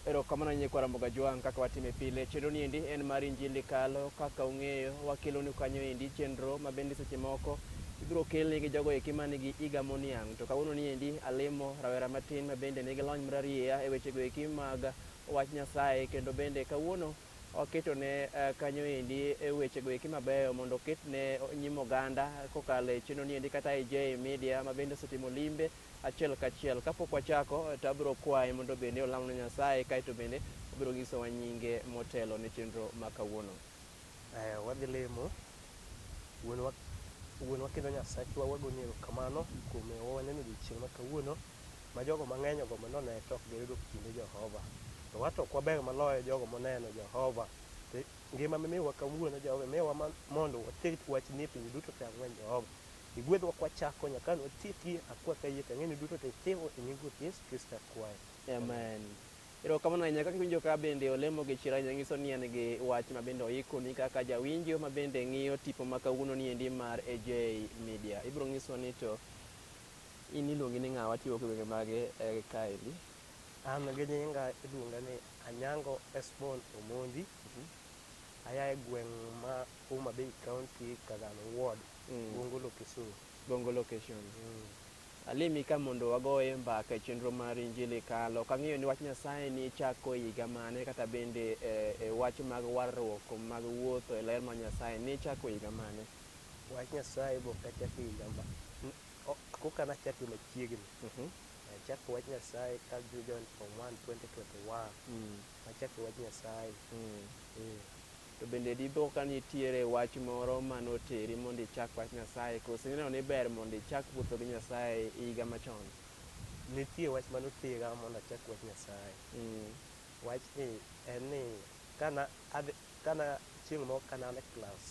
Erokamano nyie kwa Ramoga Jwang' kaka watime pile. Chenro ni endi en mar Injili Kalo. Kaka ung'eyo, wakelonu kanyo endi chenro ma bende seche moko ibiro kelni gi jogo eki man gi iga moniang'. To kawuono ni endi alimo rawera matin ma bende nigi lony mararieya e wechego eki mag wach Nyasaye kendo bende kawuono Oketone kanyo endi wechego eki mabeyo mondo oketne nyim oganda kokalo e chenro ni endi kata e Jay Media ma bende osetimo limbe achiel kachiel. Kapok wachako to abiro kwaye mondo bende olamne Nyasaye kaeto bende obiro nyisowa nyinge motelo ne chenro ma kawuono. Aya wadhi lemo. Wuonwa, Wuonwa kendo Nyasachwa, wagoni erokamano kuom miyowa waneno odiochieng' ma kawuono. ma jogo mang'eny ogombo ni one to ok giyudo kinde Jehova. To wato ok waber maloyo jogo moneno Jehova. To ngima mimiyowa kawuono Jehova imiyowa ma- mondo water wachni e pinje duto te ang'wen Jehova. Igwedhwa kwachako nyaka an watieki akwa kayie to ang'e ni duto te itimo e nying Ruoth Yesu Kristo akwayo. Amen. Erokamano ahinya kaka iwinjo ka bende olemo gi chira ahinya nyiso ni en gi wach ma bende oikoni kaka jawinjo ma bende ng'iyo tipo ma kawuono ni endi mar AJ Media. Ibiro nyiswa ni to In iluongi ni ng'a? Watiyo kiwenge mag kaendi. An gi nyinga iluonga ni Anyango Esbon Omondi. Aya e gweng' ma Homa Bay County, Kagame Ward, Gongo Location. Gongo Location. Alimi ka mondo wagoye mbaka e chenro mar Injili Kalo. Ok ang'eyo ni wach Nyasaye ni ichako e higa mane kata bende e wach mag warruok mag wuotho e ler mar Nyasaye ni ichako e higa mane? Wach Nyasaye be ok achako e higa ma Koka nachak gi machiegni. Mhm. Nachako wach Nyasaye ka join form 1 2021. Mm. Nachako wach Nyasaye. Mm. Eh. To bende dipo ka nitiere wach moro ma noteri mondo ichak wach Nyasaye koso ineno ni ber mondo ichak wuotho gi Nyasaye e higa machon? Nitie wach ma notera mondo achak wach Nyasaye. Mm. Wachni en ni kana adhi kana chieng' moro kana e klas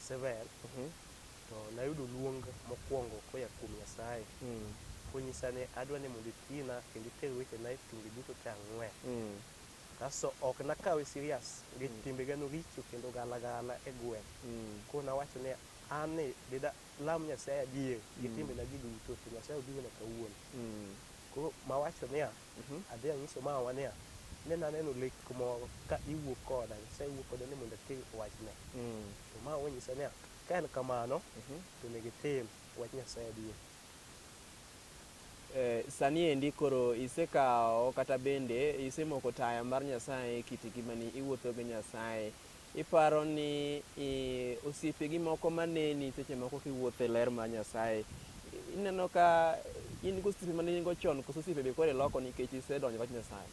Seven, Mhm. to nayudo luong mokwongo koya kuom Nyasaye Mm. konyisa ni adwa ni mondo itina kendo iter wechena e tunge duto te ang'wen. Mm. Kasto ok nakawe serious nikech timbega noricho kendo galagala e gweng'. Mm. Koro nawacho ni an ni dida lam Nyasaye adier gi Mm. timbenagi duto to Nyasaye obiro na kawuono. Mm. Koro mawacho niya, Mhm. adhi anyiso mawa niya ne naneno lek moro ka iwuok koda nyasaye wuok koda ni mondo atim wachne Mm. to ma wanyisa niya ka en kamano Mhm. to onego itim wach nyasaye adier Eh, sani endi koro isekawo kata bende isemoko taya mar nyasaye e kit ngimani iwuotho gi nyasaye Iparo ni osiepegi moko maneni seche moko kiwuotho e ler mar Nyasaye, ineno ka in gosiepe mane in go chon koso osiepe be koro iloko nikech isedonjo wach Nyasaye?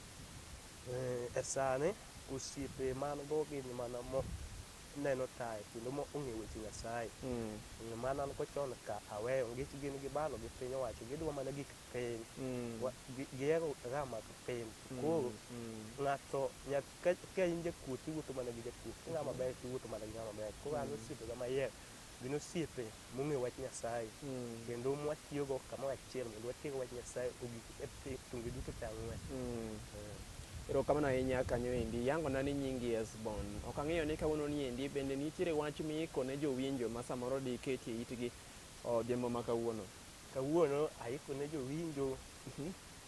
Eh, e sani osiepe man go gin mana moneno tayo kendo ma ong'e weche Nyasaye. Mm. Eh, mana an go chon ka aweyo nikech gin gi balo gi piny owacho gidwa mana gik piny. Mm. Gihero ga mag piny. Mm, Koro mm. ng'ato ka, ka in jakuoth tiwuotho mana gi jakuoth ka ng'ama ber tiwuotho mana gi ng'ama ber koro an osiepega mayier gin osiepe mong'eyo wach nyasaye Mm. kendo mwatiyogo kamoro achiel mondo watiego wach nyasaye ogik e pi- tunge duto te ang'wen Mm. erokamano ahinya kanyo endi yangona ni nyingi esbon ok ang'eyo ni kawuono ni endi bende nitiere wach miiko ne jowinjo ma samoro diketi e itgi odhiambo ma kawuono kawuono aiko ne jowinjo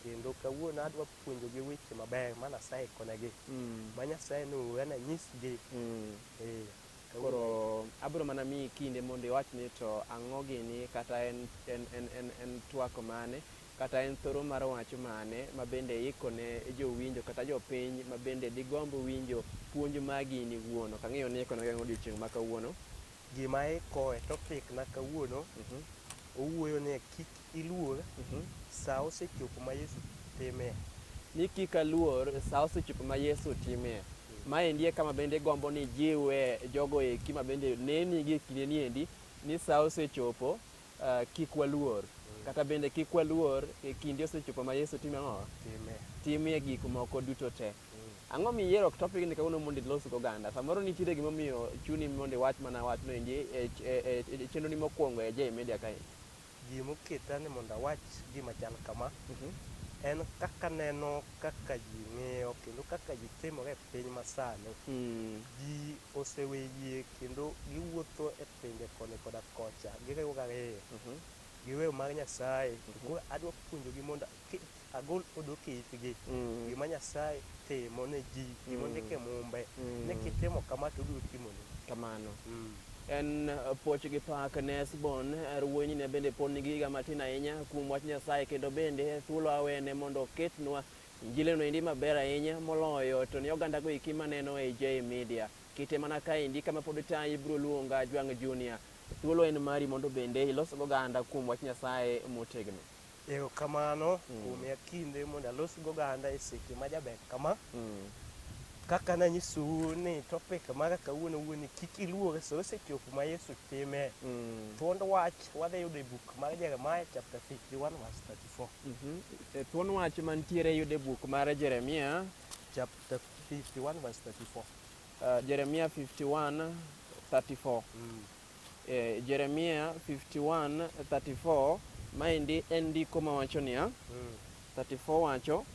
kendo kawuono adwa puonjogi weche mabeyo ma Nyasaye ikonegi Mm. ma Nyasaye nowe na nyisgi Mm. eh, kawuono- Koro abiro mana miyi kinde mondo iwach ni to ang'o gini kata en, en, en, en, en twak mane kata en thoro mar wach mane ma bende iiko ne jowinjo kata jopiny ma bende digomb winjo puonj ma gini wuon. Ok ang'eyo ni iiko ne gang'o odiechieng' ma kawuono. Gima ikoe topic na kawuono Mhm. owuoyo ni kik iluor Mhm. saa osechopo ma Yesu timie. ni kik aluor saa osechopo ma Yesu timie. Ma endi e kama bende gombo ni jiwe jogo eki ma bende neni gi e kinde ni endi ni saa osechopo ah, kik waluor. Kata bende kik waluor e kinde osechopo ma Yesu timo ang'o? Timie. Timie gik moko duto te. Ang'o miyiero topic ni kawuono mondo ilos go oganda? Samoro nitiere gima omiyo chuni mondo iwach mana wach no endi e, e, e, e chenro ni mokwongo e J Media kae. Gima oketa ni mondo awach gima chal kama mm -hmm. en kaka neno kaka ji ng'iyo kendo kaka ji timore e piny masani mm. ji osewe yie kendo giwuotho e pinje koni koda kocha giriwo gariyo mm -hmm. giweyo mar Nyasaye mm -hmm. adwa puonjogi mondo agol odo kitgi mm. gima nyasaye timo ne ji gima mm. ndike mumbe mm. ne kitimo kama to obiro timoni kamano mm. en uh, poch gi pak ne sbon er wuonyi ne bende pod nigi higa matin ahinya kuom wach nyasaye kendo bende thuolo awene mondo oketnwa injileno endi maber ahinya moloyo to ni ogandago iki maneno e j media kite mana kaendi kama pod ta ibiro luonga jwang' junior thuolo en mari mondo bende ilos goganda kuom wach nyasaye motegno Erokamano mm. kuom ya kinde mondo alos go ganda e seche ma jaber kama. Mm. Kaka na nyisu ni topic mara kawuono wuoni kik iluore so osechopo ma Yesu time. Mm. Thuond wach wadhi yudo e buk mar Jeremiah chapter 51 verse 34. Mm -hmm. E thuond wach mantiere yudo e buk mar Jeremiah chapter 51 verse 34. Uh, Jeremiah 51 34. Mm. E, Jeremia 51:34 maendi en ndiko mawacho niya 34 wacho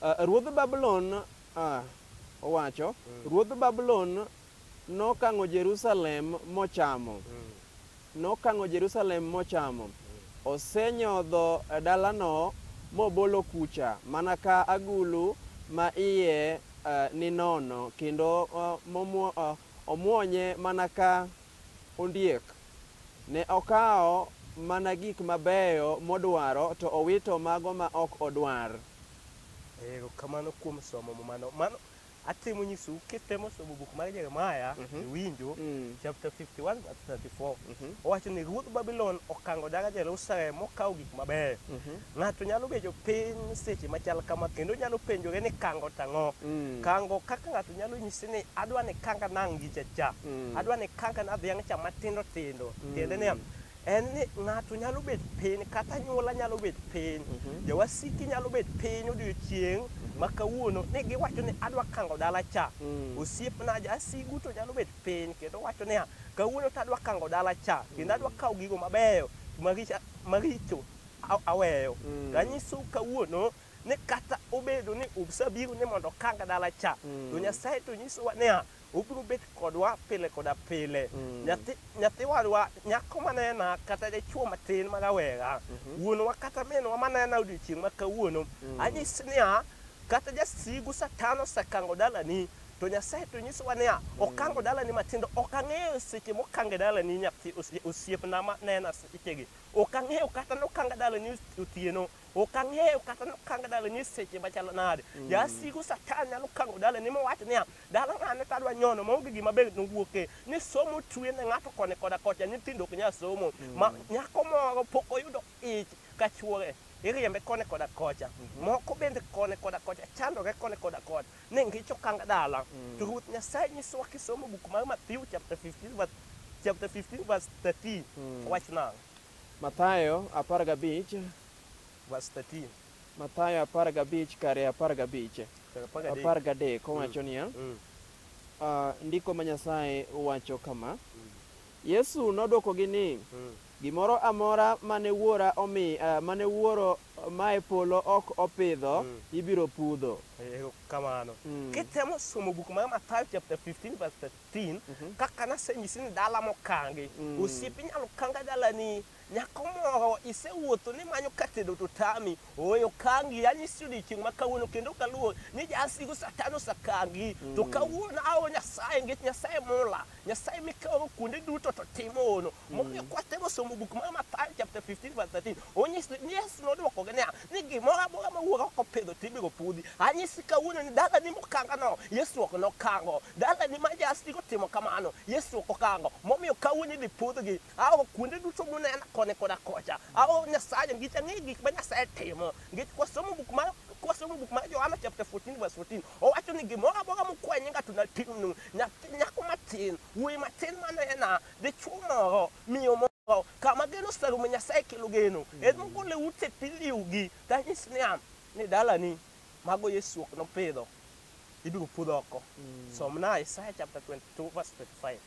"Ah, ruodh Babulon ah, owacho ruodh Babulon nokang'o Jerusalem mochamo nokang'o Jerusalem mochamo osenyodho dalano mobolo kucha mana ka agulu ma iye eh, ni nono kendo eh, momwo- eh, Omwonye mana ka ondiek. Ne okawo mana gik mabeyo modwaro to owito mago ma ok odwar. Erokamano kuom somo mumano. Mano atemo nyisou kitemo somo buk mar Jeremiah iwinjo chapter 51 verse 34. Owacho ni ruodh Babylon okango dala Jerusalem mokawo gik mabeyo. Ng'ato nyalo bedo piny seche machal kama kendo nyalo penjore ni kango tang'o. Mm. Kango kaka ng'ato nyalo nyisi ni adwa ni kanga nang' gi chacha. Mm. Adwa ni kanga na dhiang' cha matindo tindo. Mm. Tiende niya, en ni ng'ato nyalo bet piny kata anyuola nyalo bet piny. Mm -hmm. Jawasiki nyalo bet piny odiochieng' mm -hmm. ma kawuono ni giwacho ni adwa kango dala cha. Mm. Osiepna jasigu to nyalo bet piny kendo wacho niya, kawuono to adwa kango dala cha. Kendo adwa mm. kawo gigo mabeyo maricho. aweyo mm. to anyisou kawuono ni kata obedo ni usebiro ni mondo kang dala cha mm. to nyasaye to nyisowa niya obiro bet kodwa pile koda pile mm. nyathi nyathi wadwa nyako manena kata dichuo matin ma rawera mm -hmm. wuonwa kata minwa manena odiochieng' ma kawuono mm. anyis niya kata jasigu satan osekango dalani to nyasaye to nyisowa niya mm. okango dalani matindo ok ang'eyo seche mokange dalani nyathi osiepna ma nena sechegi Ok ang'eyo kata nokanga dalani otieno. Ok ang'eyo kata nokanga dalani seche machalo nade. Mm. Jasigu satan nyalo kango dalani mowacho niya, dala ng'ane tadwa nyono maonge gima be nowuoke. Ni somo otwe ne ng'ato koni koda kocha, nyithindo ok nyal somo. Mm. Ma, nyako moro pok oyudo ich ka chwore. Iriembe koni koda kocha. Mm-hmm. Moko bende koni koda kocha, chandore koni koda kocha. Ne ngi cho kang dala. Mm. To ruoth Nyasaye nyisowa kisomo buk mar Matthew chapter 15 verse chapter 15 verse 13. Mm. Wach nang. Mathayo 15 verse 13. Mathayo 15 kare 15. 13 kowacho mm. niya. Mm. Uh, ndiko ma Nyasaye wacho kama. Mm. Yesu nodwokogi ni mm. gimoro amora mane wuora omi uh, mane wuoro Mae polo ok opidho, ibiro pudho. Ero kamano. Mm. Kitemo somo buk mar Mathayo chapter 15 verse 13, kaka nasenyisi ni dala mokangi. Mm. Osiepi nyalo kanga dalani. Nyako moro isewuotho ni manyo ka tedo to tami. Ooyo kangi, anyisi odiechieng' ma kawuono kendo kaluor ni jasigu satan osakangi. To kawuono aoro Nyasaye nikech Nyasaye mula. Nyasaye mikaoro kuonde duto to timo hono. Momiyo kwatego somo buk mar Mathayo chapter 15 verse 13, onyis ni Yesu nodwokogi niya, ni gimoro amora ma wuoro ok opidho to ibiro pudhi. Anyisi kawuono ni dalani mokangano, Yesu ok nokango. Dalani ma jasik otimo kamano, Yesu ok okango. Momiyo kawuono idhi pudhgi. Aoro kuonde duto munena koni koda kocha. Aoro Nyasaye nikech ang'eyo gik ma Nyasaye timo. Nikech kwasomo buk mar kwasomo buk mar Johana chapter 14 verse 14, owacho ni gimoro amora mukwayo nyinga to natimnu. Nyathi nyako matin, wuoyi matin manena, dichwo moro, miyo moro, kama geno oserumo, Nyasaye kelo geno. Mm. En mogole ute piliwgi, tanyis niya, ni dalani, mago Yesu ok nopidho, ibiro pudh oko. Mm. Somna Isaya chapter 22 verse 25.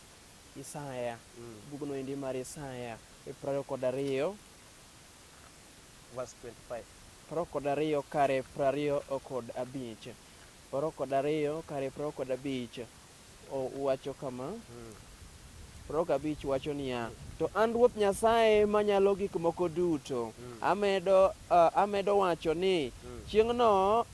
Isaya, mm. bugno endi mar Isaya, e prariyo kod ariyo. Verse 25. Prariyo kod ariyo kare prariyo kod abich. Prariyo kod ariyo kare prariyo kod abich. Owacho kama, Prok abich wacho niya, To an Ruoth Nyasaye Manyalo Gik Moko Duto, amedo, ah, amedo wacho ni chieng'no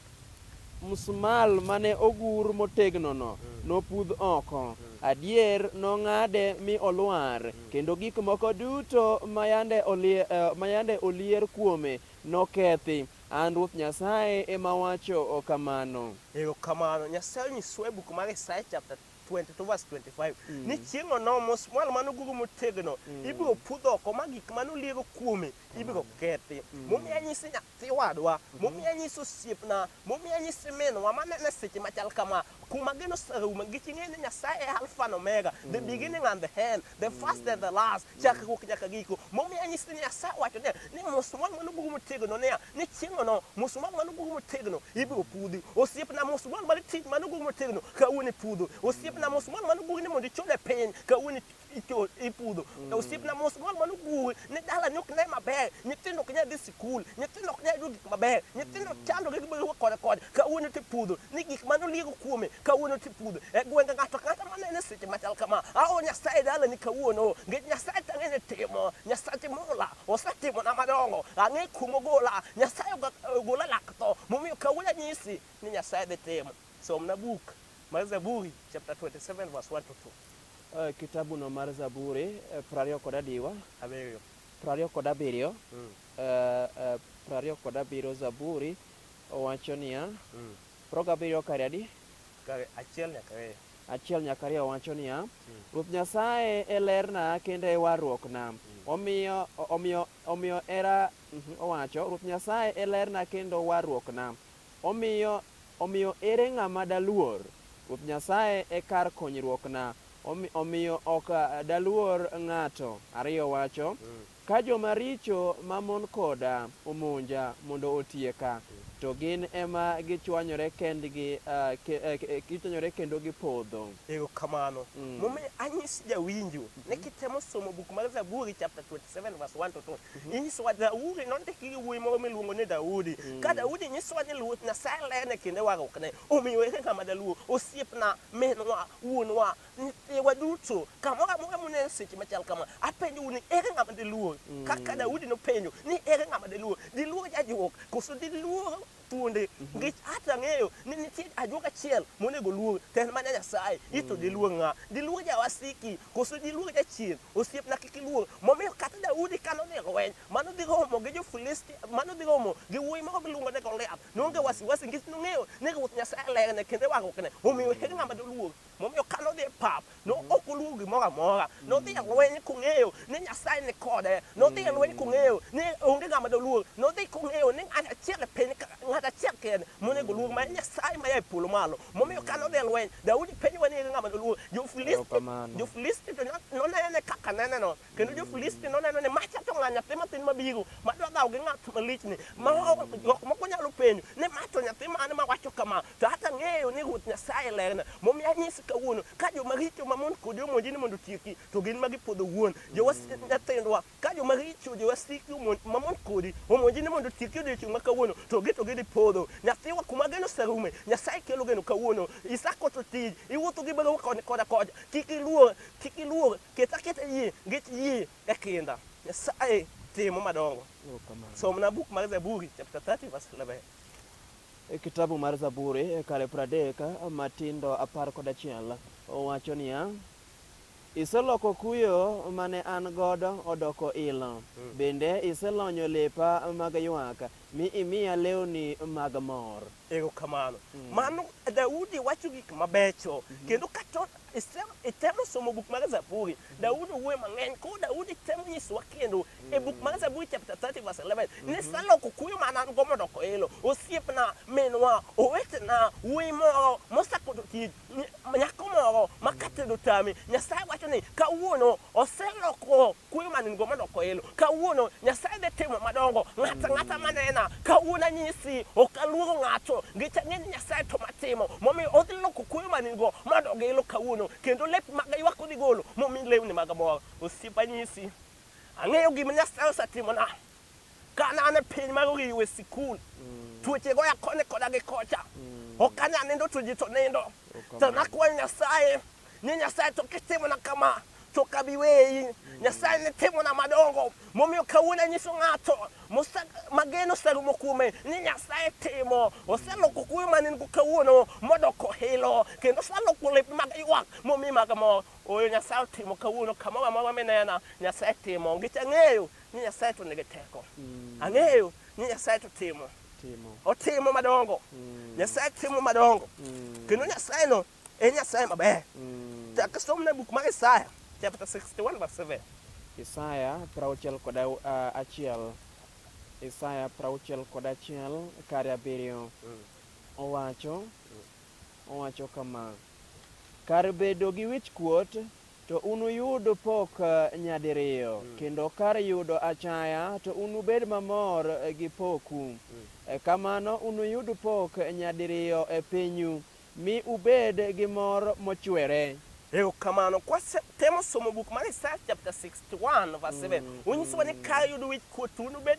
msmal mane ogur motegnono nopudh oko. Adier, nong'ade mi olwar, kendo gik moko duto ma yande olie- eh, ma yande olier kuome nokethi. An Ruoth Nyasaye ema awacho kamano. Erokamano. Nyasaye onyisowa e buk mar Isaya chapter 22 verse 25 ni chieng' onoa mosmwal mane oguro motegno ibiro pudh oko ma gik mane oliero kuome ibiro kethi. Momiyo anyisi nyathi wadwa, momiyo anyisi osiepna, momiyo anyisi minwa maneno e seche machal kama, Kuom ageno saume nikech ing'eyo ni Nyasaye e Alfa na Omega, the mm. beginning and the end, the first and the last, mm. chakruok nyaka giko. Momiyo anyisi ni Nyasaye wacho niya ni musumwal mano gugu motegno niya ni chieng'ono musumwal mano gugu motegno ibiro pudhi. Osiepna musumwal mano tich mano gugu motegno kawuono ipudho. Osiepna musumwal mano gugu ni mondo ichode piny kawuono icho- ipudho to osiepna mos gol mano guwe ne dala ne ok ne maber nyithindo ok nyal dhi sikul nyithindo ok nyal yudo gik maber nyithindo chandogi gibedo kode kode kawuono tipudho ni gik mane oliego kuome kawuono tipudho e gwenge ng'ato kata manene seche machal kama ao nyasaye dalani kawuono nikech nyasaye tang'e ni timo nyasache mola osetimona madongo ang'e kumo gola nyasaye oga- ogola lak tho momiyo kawuono anyisi ni nyasaye dhi timo Somna buk mar Zaburi chapter 27 verse 1 to 2. Eh, kitabu no mar zaburi eh, prariyo kod adiwa Abiriyo. prariyo kod abiriyo Mm. eh, eh, prariyo kod abiriyo zaburi owacho niya Mm. prariyo gabiriyo kare adi Kare achiel nyaka ariyo. achiel nyaka ariyo wacho niya ruoth nyasaye e lerna kendo e warruokna omiyo omiyo omiyo era mhm, owacho ruoth nyasaye e lerna kendo warruokna Omiyo, omiyo ere ng'ama daluor? Ruoth Nyasaye e kar konyruokna, omi, omiyo ok daluor ng'ato. Ariyo wacho, Ka joma richo ma mon koda omonja mondo otieka, to gin ema gichwanyore kendgi, uh, ke, uh, gichwanyore kendo gipodho. Erokamano. Mm. Momiyo anyis jawinjo ne kitemo somo buk mar Zaburi chapter 27 verse 1 to 2. Mhm. Inyisowa Daudi nondiki gi wuoyi moro miluongo ni Daudi. Mhm. Ka Daudi nyisowa ni Ruoth Nyasaye lene kinde warruokne. Omiyo ere ng'ama daluo osiepna, minwa, wuonwa, nyithiwa duto kamoro amora muneno seche machal kama apenjou ni ere ng'ama diluor mhm. kaka Daudi nopenjo ni ere ng'ama diluor diluor jajuok koso diluor thuonde nikech hata ang'eyo ni nitie ajuoga achiel monego luong to en mana nyasaye ito diluong ng'a diluong jawasiki koso diluong jachien osiepna kik iluong momiyo kata daudi ka nodhi e lweny mano dhi romo gi jo-filisti mano dhi romo gi wuoyi moko giluongo ni goliath noonge wasiwasi nikech nong'eyo ni ruoth nyasaye lerne kendo e warruokne omiyo onge ng'ama doluong Momiyo ka nodhi e pap, no mm. ok oluwo gimoro amora. Nodhi e lweny kong'eyo ni Nyasaye ni kode. Nodhi e lweny kong'eyo ni onge ng'ama doluor. Nodhi kong'eyo ni ng'at achiel e piny, ng'at achiel kende monego luor ma Nyasaye ma yaye polo malo. Momiyo ka nodhi e lweny, Daudi penjo ni ng'ama doluor. Jo-Filisti, jo-Filisti to nonene kaka neneno. Kendo jo-Filisti noneno ni macha to ng'a nyathi matin mabiro, madwa dhawo gi ng'at malichni. Ma jok moko nyalo penjo ni ma to nyathi mane ma wacho kama. To hata ng'eyo ni Ruoth Nyasaye e lerna, momiyo anyisi kawuono, ka joma richo mamon kodi omonji ni mondo otieki, to gin ma gipodho wuon. Jowas- Nyathendwa, ka joma richo jowasiki omon- mamon kodi omonji ni mondo otieki odiechieng' ma kawuono, to gi to gidhi podho. Nyathiwa, kuma geno oserume, Nyasaye kelo geno kawuono. Isako to tij, iwuotho gi baruwa koni koda kocha. Kik iluor, kik iluor, ket aketa yie, nikech yie e kinda. Nyasaye timo madongo. Somna buk mar Zaburi chapter 30 verse 11. E kitabu mar Zaburi e kare pradek matindo apar kod achiel owacho niya, Iseloko kuyo mane an godo odoko ilo, hmm. bende iselonyo lepa mag ywak, mi imiya lewni mag mor. Ero kamano. Hmm. Mano Daudi wacho gik mabecho, hmm. kendo kato itemo somo buk mar Zaburi, Daudi wuoyo mang'eny, koro Daudi temo nyisowa kendo e buk mar Zaburi chapter 30 verse 11 mm-hmm. niseloko kuyo ma an go mondo koelo osiepna minwa owetena wuoyi moro mosakoto tich nyako moro ma katedo tami nyasaye wacho ni kawuono oseloko kuyo ma nin go mondo koelo kawuono nyasaye dhi timo madongo ng'ata ng'ata manena kawuono anyisi ok aluoro ng'ato ngech ang'e ni nyasaye to matimo momiyo odhi loko kuyo ma nin go mondo gilo kawuono kendo lep maga ywak odhi golo momi lewni mag mor osiepa nyisi Ang'eyo gima Nyasaye osetimona. Ka ne an e piny mar oriwe sikul, tuoche goya koni koda gi kocha. Ok anyal nindo to ji to nindo. To nakwayo Nyasaye ni Nyasaye to kitimona kama to ok abi weyi. Nyasaye ne timona madongo momiyo kawuono anyiso ng'ato mose- ma geno oserumo kuome ni Nyasaye timo. Oseloko kuyo ma ne in-go kawuono modoko hilo kendo oseloko lep mag ywak momi mag mor. Ooyo Nyasaye otimo kawuono kamoro amora minena Nyasaye timo nikech ang'eyo ni Nyasaye to nigi teko. Mm. Ang'eyo ni Nyasaye to timo. Timo. Otimo madongo. Mm. Nyasaye timo madongo. Mm. Kendo Nyasaye no en Nyasaye maber. Mm. Chak som na buk mar Isaya chapter 61 verse 7. Isaya prauchiel kod uh, achiel. Isaya prauchiel kod achiel kare abiriyo. Mm. Owacho. Mm. Owacho kama, Kar bedo gi wich-kuot, to unuyud pok nyadiriyo, kendo kar yudo achaya, to unubed mamor gi poku. E Kamano unuyud pok nyadiriyo e pinyu, mi ubed gi mor mochwere. Erokamano. Kwasetemo somo buk mar Isaya chapter 61 verse 7, onyisowa ni kar yudo wich-kuot to unubed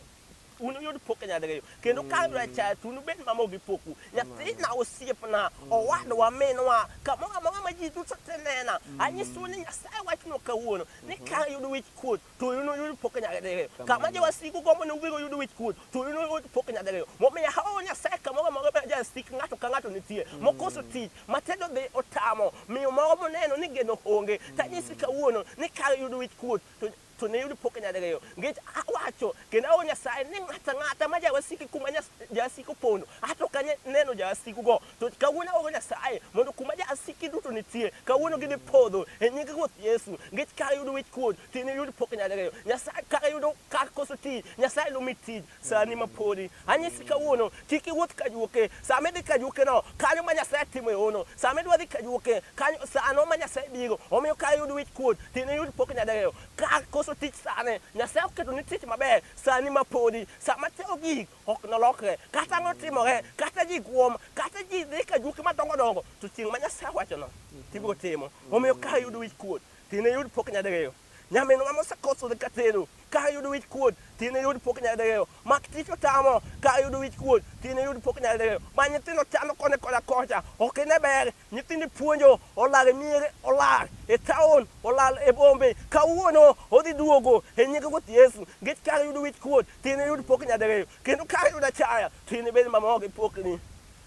unuyud pok nyadiriyo kendo ka abiro achaya to unubed mamo gi poku nyathina osiepna owadwa minwa kamoro amora ma ji duto te nena anyisou ni nyasaye wachno kawuono ni ka yud wich kuot to unuyud pok nyadiriyo kama jowasiku gombo ni ubiro yud wich kuot to unuyud pok nyadiriyo momiyo aoro nyasaye kamoro amora ma jasik ng'ato ka ng'ato nitie mokoso tich matendo dhi otamo miyo moro moneno ni geno onge tanyisi kawuono ni ka yud wich kuot to to ne yudo pok nyadiriyo nikech awacho kendo awo nyasaye ni ng'ata ng'ata ma jawasiki kuma nyas- jawasiki opondo ato ok anya neno jawasikugo to kawuono awo nyasaye mondo kuma jawasiki duto nitie kawuono gidhi podho e nying ruoth yesu nikech kar yudo wich kuot to ne yudo pok nyadiriyo nyasaye kar yudo kar koso tich nyasaye nomi tich sani ma podi anyisi kawuono kik iwuoth ka juoke sama idhi ka juokeno kanyo ma nyasaye timo e hono sama idwa dhi ka juoke kanyo sano ma nyasaye bigo omiyo ka iyud wich kuot tindo iyud pok nyadiriyo ka koso tich sane nyasaye oketo ni tich maber sani ma podi sama timo gik ok nolokre kata ang'o timore kata ji guom kata ji dhi ka juoke madongo dongo to chieng' ma nyasaye wachono tibiro timo omiyo ka iyud wich kuot tindo iyud pok nyadiriyo Nyaminwa mosekosore ka tero ka ayudo wich kuot tin yud pok nyadegeo mak tich otamo ka ayudo wich kuot tin yud pok nyadegeo ma nyithindo chano kone koda kocha ok ine ber nyithindo puonjo olal e miere olal e taon olal e bombe kawuono odhi duogo e nyinge ruoth yesu ngech ka ayudo wich kuot tin yud pok nyadegeo kendo ka ayudo achaya tin ibed mamor gi pokni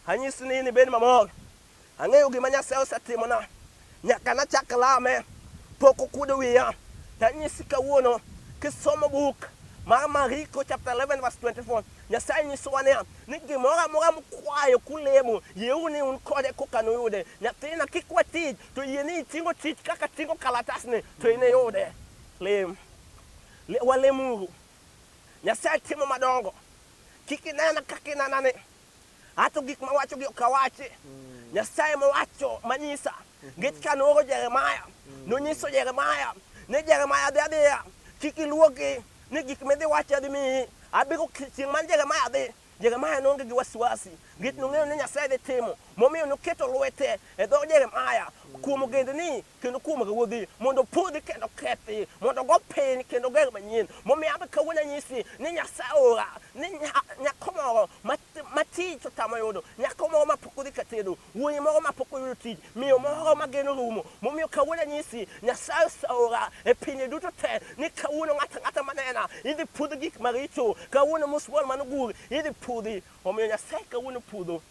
anyisi ni in ibed mamor Ang'eyo gima Nyasaye osetimona nyaka nachak lame, pok okuodo wiya. Tanyisi kawuono kisomo buk mar Mariko chapter 11 verse 24, Nyasaye nyisowa niya ni gimoro amora mukwayo kulemo, yieuru ni un kode koka nuyude. Nyathina kik we tich, to yie ni itingo tich kaka tingo kalatasni to iniyude. Lem. Le, walemuru. Nyasaye timo madongo. Kik inena kaka inenani. Ato gik ma wacho gi ok awachi. Nyasaye mowacho manyisa. Nikech ka nooro Jeremaya, nonyiso Jeremaya ni Jeremaya dhi adhiya, kik iluogi ni gik midhi wacho adhi miyi. Abiro chieng' ma Jeremaya dhi, Jeremaya noonge gi wasiwasi. Nikech nong'eyo ni Nyasaye dhi timo. Momiyo noketo lwete e dho Jeremaya kuom ogendni kendo kuom ruodhi mondo opodhi kendo kethi mondo ogo piny kendo ger manyien momiyo abe kawuono anyisi ni nyasaye ora ni nya- nyako moro ma- ma tich otamo yudo nyako moro ma pok odhi katedo wuoyi moro ma pok oyudo tich miyo moro ma geno rumo momiyo kawuono anyisi nyasaye osaora e pinje duto te ni kawuono ng'ata ng'ata manena idhi pudh gik maricho kawuono musmol mano gur idhi pudhi omiyo nyasaye kawuono pudho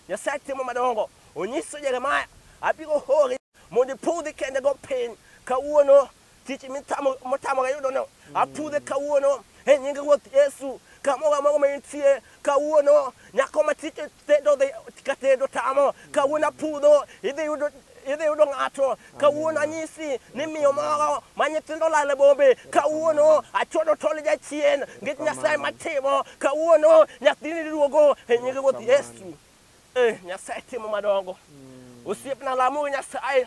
nyasaye timo madongo onyiso jeremaya abiro hori mondo ipudhi kende go piny kawuono tich mitamoga yudono apudhe kawuono e nying ruoth yesu kamoro amoro ma intie kawuono nyako ma tich tedo dhi ka tedo tamo kawuono apudho idhi yudo idhi yudo ng'ato kawuono anyisi ni miyo moro ma nyithindo olal e bombe kawuono achodo tol jachien ngech nyasaye matimo kawuono nyathini duogo e nying ruoth yesu Eh, Nyasaye timo madongo. Osiepna lamo Nyasaye.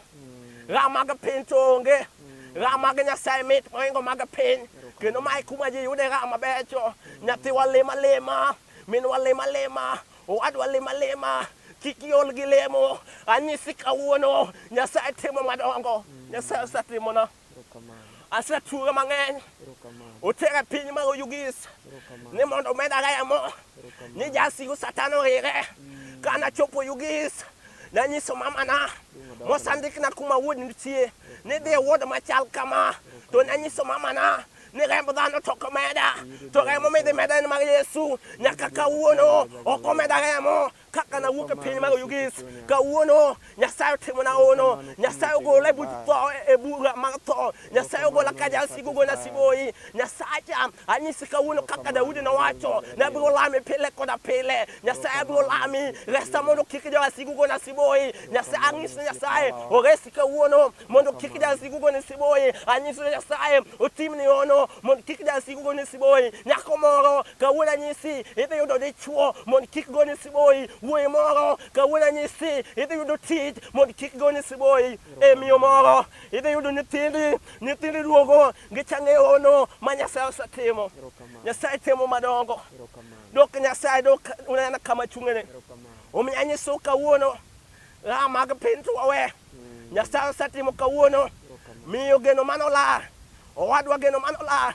Ra mag piny to onge. Ra mag Nyasaye mit moingo mag piny. Kendo mae kuma ji yude ra mabecho. Nyathiwa lima lima. Minwa lima lima. Owadwa lima lima. Kik iol gi lemo. Anyisi kawuono. Nyasaye timo madongo. Nyasaye osetimona. asetuge mang'eny otere e piny mar oyugis ni mondo omeda remo ni jasigu satan orire mm. ka nachopo oyugis nanyiso mamana mosandikna kuma wuod nitie ni dhi e wuod machal kama to nanyiso mamana ni remb dhano to ok omeda to remo midhi meda en mar yesu nyaka kawuono ok omeda remo kaka nawuok e piny mar Oyugis kawuono Nyasaye otimo na ono Nyasaye ogola e buch tho e bura mar tho Nyasaye ogola ka jal sigo gona sigoyi Nyasaye anyisi kawuono kaka Daudi nowacho ne abiro lami pile koda pile Nyasaye abiro lami resa mondo kik jal sigo gona sigoyi Nyasaye ang'isi Nyasaye oresi kawuono mondo kik jasigu gone siboyi anyiso nyasaye otimni hono mondo kik jasigu gone siboyi nyako moro kawuono anyisi idhi yudo dichwo mondo kik gone siboyi wuoyi moro kawuono anyisi idhi yudo tich mondo kik gone siboyi e miyo moro idhi yudo nyithindi nyithindi duogo gichang'e hono ma nyasaye osetimo nyasaye timo madongo dok nyasaye dok unena kama chung'ene omiyo anyiso kawuono raha mag piny to wawe Nyasaye osetimo kawuono. Miyo geno mano la. Owadwa geno mano la.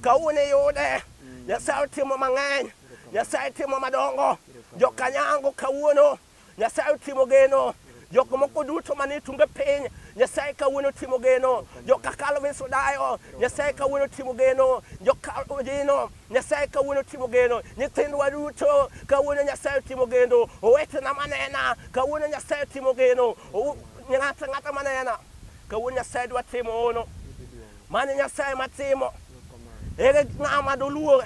Kawuono iyude. Nyasaye otimo mang'eny. Nyasaye timo madongo. Jokanyango kawuono. Nyasaye otimo geno. Jok moko duto manie tunge piny. Nyasaye kawuono timo geno. Joka Calvin Sudayo. Nyasaye kawuono timo geno. Joka Ojino. Nyasaye kawuono otimo geno, nyithindwa duto kawuono Nyasaye otimo gendo, owetena manena kawuono Nyasaye otimo geno, Ow- ng'ata ng'ata manena kawuono Nyasaye dwa timo hono. Mano e Nyasaye matimo. Ere ng'ama doluor?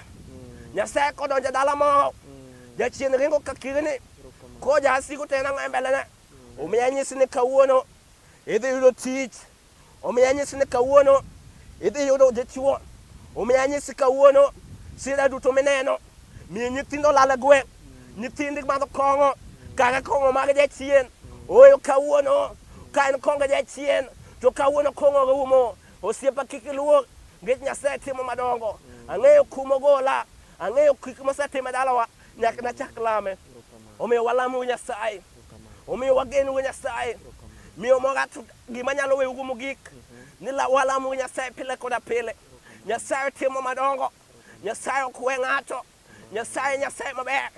Nyasaye kodonjo e dala moro, jachien ringo ka kirni, ko jasigu to en ang'o e mbelene? Omiyo anyisi ni kawuono idhi yudo tich. Omiyo anyisi ni kawuono idhi yudo dichwo. Omiyo anyisi kawuono sira duto mineno miyo nyithindo lal e gweng', nyithindi madho kong'o kaka kong'o mag jachien. Ooyo kawuono ka en kong'o jachien to kawuono kong'o rumo. Osiepa kik iluor nikech Nyasaye timo madongo. Ang'eyo kuma ogola, ang'eyo gik mosetimo e dalawa nyaka nachak lame. Omiyo walamuru Nyasaye. Omiyo wageno go Nyasaye. Miyo moga to gima nyalo weyugo mogik ni la- walamo Nyasaye pile koda pile. Nyasaye timo madongo. Nyasaye ok we ng'ato. Nyasaye Nyasaye maber.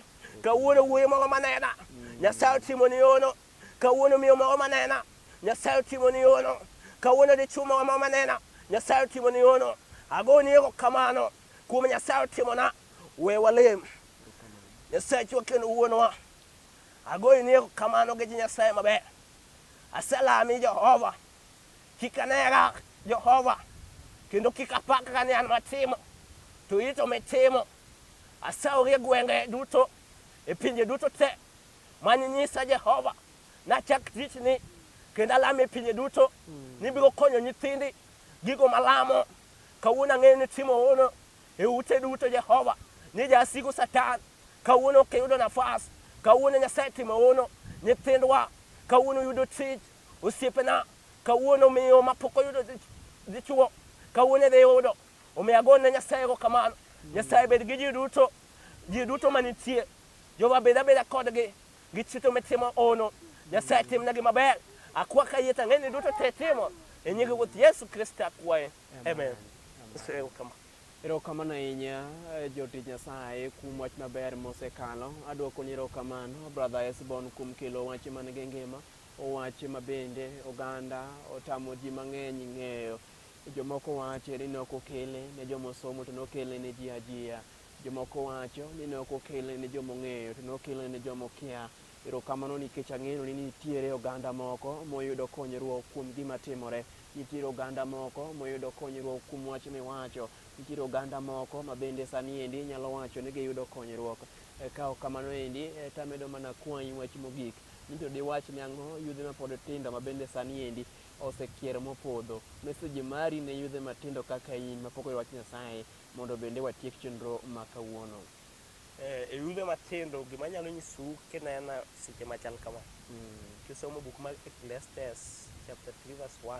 Kawuono wuoyi moro manena. Nyasaye otimo ni yono. Kawuono miyo moro manena. Nyasaye otimo ni yono. Kawuono dichwo moro ma manena. Nyasaye otimo ni yono. Agoni erokamano kuom Nyasaye otimona. We walem. Nyasachwa kendo wuonwa. Agoyi ni erokamano nikech Nyasaye maber. Aselami Jehova. Kik anera Jehova. Kendo kik apakra ni an matimo. To in to mitimo. Asaori e gwenge duto, e pinje duto te mane inyisa Jehova. Nachak tichni kendo alami e pinje duto. Nibiro konyo nyithindi gigo malamo. Kawuono ang'eyo ni itimo hono. e ute duto Jehova ni jasigu Satan kawuono ok iyudo nafas kawuono Nyasaye timo hono nyithindwa kawuono yudo tich osiepena kawuono miyo mapok oyudo dichuo kawuono idhi yudo omiyo ago ne Nyasaye go kamano Nyasaye bed gi ji duto ji duto manitie Jehova bed abeda kodgi gi chito mitimo hono Nyasaye timnegi maber akwaka yie tang'eni duto te timo e nying Ruoth Yesu Kristo akwaye Amen. Erokamano. Erokamano ahinya eh, jotich Nyasaye kuom wach maber mosekalo. Adwoko ni erokamano brother Esbon kuom kelo wach man gi ngima, wach ma bende oganda otamo ji mang'eny ng'eyo. Jomoko wacho ni ne ok okele ne joma osomo to ne okele ne ji ajiya. Jomoko wacho ni ne ok okele ne joma ong'eyo to ne okele ne joma okia. Erokamano nikech ang'eyo ni nitiere oganda moko moyudo konyruok kuom gima timore. Nitiere oganda moko moyudo konyruok kuom wach miwacho. Nitiere oganda moko ma bende sani endi inyalo wacho ni giyudo konyruok. E, ka ok kamano endi, e, to amedo mana kwayi wach mogik ni to diwach ne ang'o yudhe mapod tindo ma bende sani endi osekier mopodho. Message mari ne yudhe matindo kaka in mapok oyudo wach Nyasaye mondo bende watiek chenro ma kawuono. E rude matindo, gima anyalo nyisou kinena seche machal kama, kisomo buk mar Ecclesiastes chapter 3 verse 1,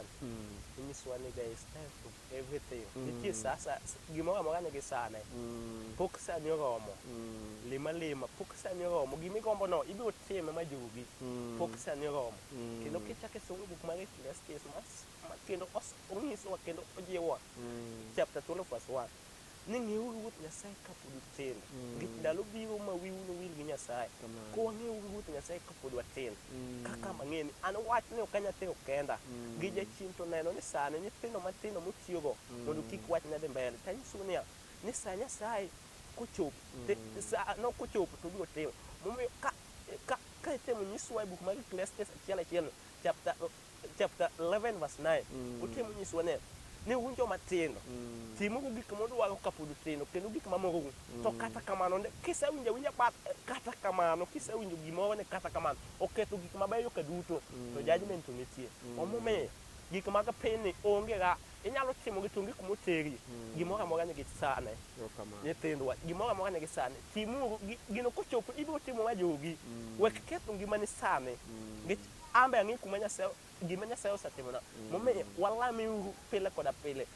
inyisowa ni there is time for everything. Nitie sa sa gimoro amora nigi sane. Pok sani oromo. Lima lima, pok sani oromo. Gima igombono ibiro time ma jugi. Pok sani oromo. Kendo kichako isomo buk mar Ecclesiastes mas ma kendo os- onyisowa kendo ojiwowa chapter 12 verse 1. ni ng'euru Ruoth Nyasaye kapod utindo. Nikech ndalo biro ma wiu nowil gi Nyasaye. Kamano. Koro wang'euru Ruoth Nyasaye kapod watindo. Mm. Kaka mang'eyo ni an wach ni ok anyal tero kenda. Mm. Gi jachien to neno ni sani nyithindo matindo motiyogo mondo kik wach ne dhi mbele. To anyisou niya, ni sa Nyasaye kochopo, ti- Mm. sa no kochopo to obiro timo. Momiyo ka, ka, ka itemo nyiswa e buk mar Ecclesiastes achiel achielno, chapter, chapter 11 verse 9 Mm. otemo nyisowa ne ni un joma tindo Mm. timogo gik modwaro kapod utindo kendo gik mamorou to kata kamano ne- kisewinjo awinja bat kata kamano kisewinjo gimoro ni kata kamano oketho gik mabeyo ka duto to judgment to nitie omomiyo gik mag pinyni onge ga inyalo timo gi tunge kuma oteri gimoro amora nigi sane Erokamano. nyithindwa gimoro amora nigi sane timuru gi- gino kochopo ibiro timo ma jogi wek ketho ngimani sane Nikech An be ang'eyo kuma Nyasaye gima Nyasaye osetimona. Mm. Momiyo walame uru pile koda pile.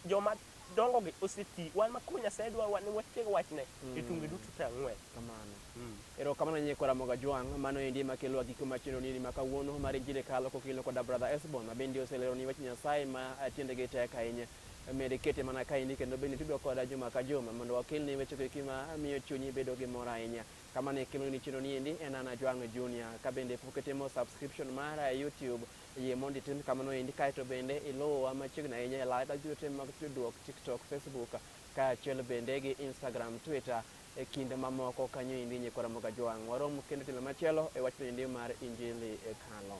Joma dongo gi oseti. Wan makoro Nyasaye dwa wan watieg wachne mm. e tunge duto te ang'wen. Kamano. Mm. Ero kamano nyie kora moga juang' mano endi makelo agiko machendo nini maka wuono mar injili kalo kokilo koda brother Esbon ma bende oselero ni wach Nyasaye ma atiende gi tek ahinya. Mede kete mana kaini kendo bende tudo koda juma ka juma mondo wakelni weche kiki ma miyo chunyi bedo gi mor ahinya. Kama ne kelo ni chino niendi en Ana Jwang' Junior. Ka bende pok itimo subscription mara e YouTube, yie mondo itim kamano endi kaeto bende iluwa machiegni ahinya e live ajute mag tudruok TikTok, Facebook kaachiel bende gi Instagram, Twitter e kinde mamoko kanyo endi nyikora moga Jwang'. Warom kendo tielo machielo e wachno endi mar Injili e Kano.